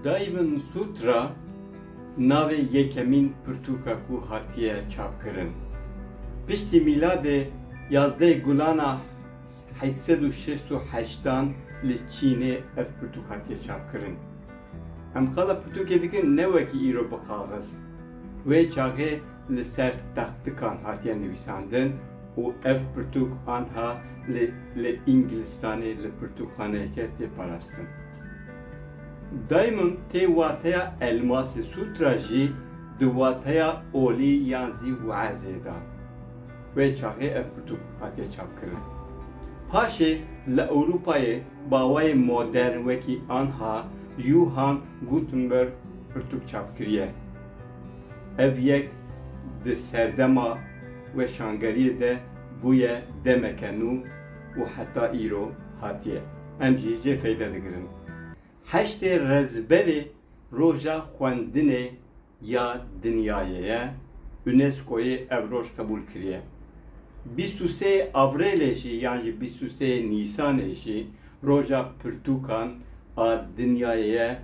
Daivan Sutra navê yekemîn pirtûka ku hatiye çapkirin. Piştî mîladê yazdeh gulana heşt sed û şeşt û heştan li Çînê ev pirtûk hatiye çapkirin. Em qala pirtûkê dikin ne wekî îro bi kaxiz. Wê çaxê li ser taxtikan hatiye nivîsandin û ev pirtûk anha li Îngilistanê li pirtûkxaneyeke tê parastin. Diamond tê wateya elmasê, sutra jî di wateya olî yan zî wezê de wê çaxê ev pirtûk hatiye çapkirin. Paşê li Ewropayê bawayê modern wekî anha Yuhan Gutenberg pirtûk çapkiriye. Ev yek di serdema weşangeriyê de bûye demeke nû û heta îro hatiye. Em jî jê feyde digirin. Heştê Rezberê Roja Xwendinê ya Dinyayê ye, UNESCO'yê ev roj qebûl kiriye. Bîst û sê Avrêlê jî yan jî bîst û sê Nîsanê jî Roja Pirtûkan a Dinyayê ye.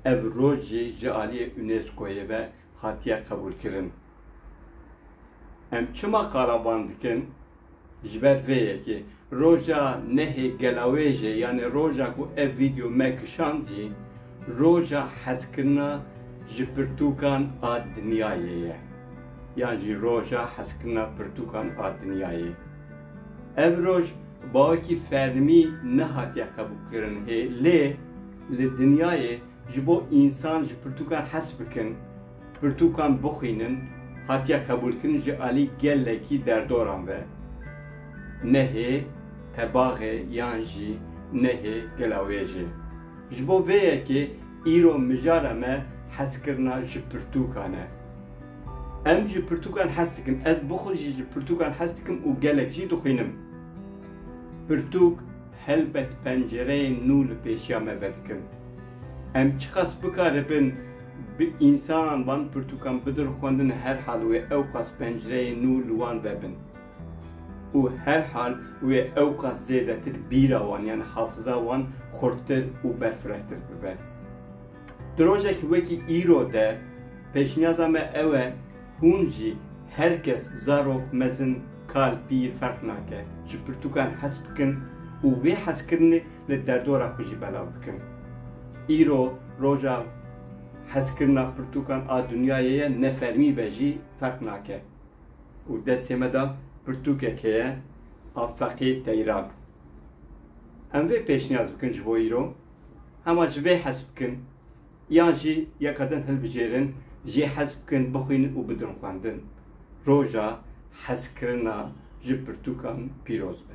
Ev roj jî ji aliyê UNESCO'yê ve hatiye qebûlkirin. Em çima qala van dikin? Ji ber vê yekê, roja nehê gelawêjê yanî roja ku ev vîdeo me kişand jî roja hezkirina ji pirtûkan a dinyayê ye yan jî roja hezkirina pirtûkan a dinyayê. Ev roj bawekî fermî nehatiye qebûlkirin hê lê, Li dinyayê ji bo însan ji pirtûkan hez bikin, pirtûkan bixwînin hatiye qebûlkirin ji alî gelekî derdoran ve. Nehê tebaxê yan jî nehê gela wêjê. Ji bo vê yekê îro mijara me hezkirina ji pirtûkan e. Em ji pirtûkan hez dikin, ez bixwe jî ji pirtûkan hez dikim û gelek jî dixwînim. Pirtûk. Helbet pencereyên nû li pêşiya me vedikin. Em çiqas bikaribin bi însanan van pirtûkan bidin xwendin herhal wê ewqas pencereyên nû li wan ve bin û herhal wê ewqas zêdetir bîra wan yan hafiza wan xurttir û berfirehtir bibe. Di rojek wekî îro de pêşniyaza me ew e hûn jî her kes zarok, mezin, kal, pîr ferq nake ji pirtûkan hez bikin û wê hezkirinê li derdora xwe jî belav bikin. Îro roja hezkirina pirtûkan a dinyayê ye ne fermî be jî ferq nake û destê me de pirtûkek heye a feqê Teyran. Em vê pêşniyaz bikin ji bo îro. hema ji vê hez bikin yan jî yeka din hilbijêrin jê hez bikin bixwînin û bidin xwendin. Roja hezkirina ji pirtûkan pîroz be.